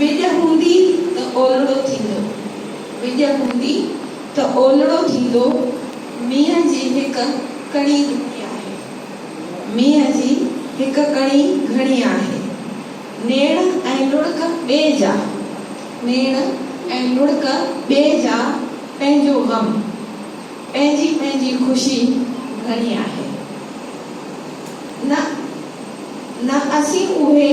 وڄ هوندي ته اولڙو ٿيندو، وڄ هوندي ته اولڙو ٿيندو، مينهن جي هڪ ڪڻي گهڻي آهي، مينهن جي هڪ ڪڻي گهڻي آهي، نيڻ ۽ لڙڪ ٻئي جا، نيڻ ۽ لڙڪ ٻئي جا، پنهنجو غم، پنهنجي پنهنجي خوشي گهڻي آهي. نه نه اسين اهي.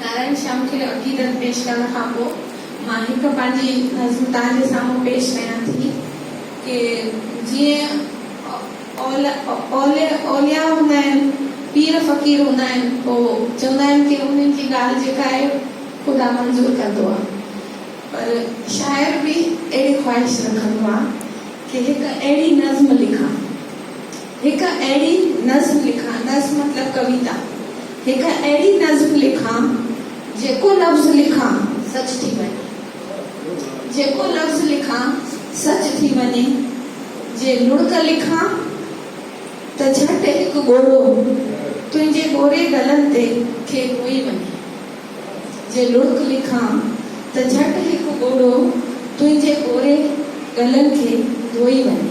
نارائڻ شيام کي عقيدت پيش ڪرڻ کان پوء مان هڪ پنهنجي نظم توهان جي سامهون پيش ڪيان ٿي ڪي جيئن اوليا اوليا هوندا آهن، پير فقير هوندا آهن پوء چوندا آهن ڪي انهن جي ڳالهه جيڪا آهي خدا منظور ڪندو آهي پر شاعر به اهڙي خواهش رکندو آهي ڪي هڪ اهڙي نظم لکان. هڪ اهڙي نظم لکان، نظم مطلب ڪويتا، هڪ اهڙي نظم لکان، جيڪو لفظ لکان، سچ ٿي وڃي، جيڪو لفظ لکان، سچ ٿي وڃي، جي لڙڪ لکان ته جهٽ هڪ ڳورو، تنهنجي ڳوري گلن تي، کي ڪوئي وڃي، جي لڙڪ لکان ته جهٽ هڪ ڳورو، تنهنجي ڳوري گلن کي ڌوئي وڃي.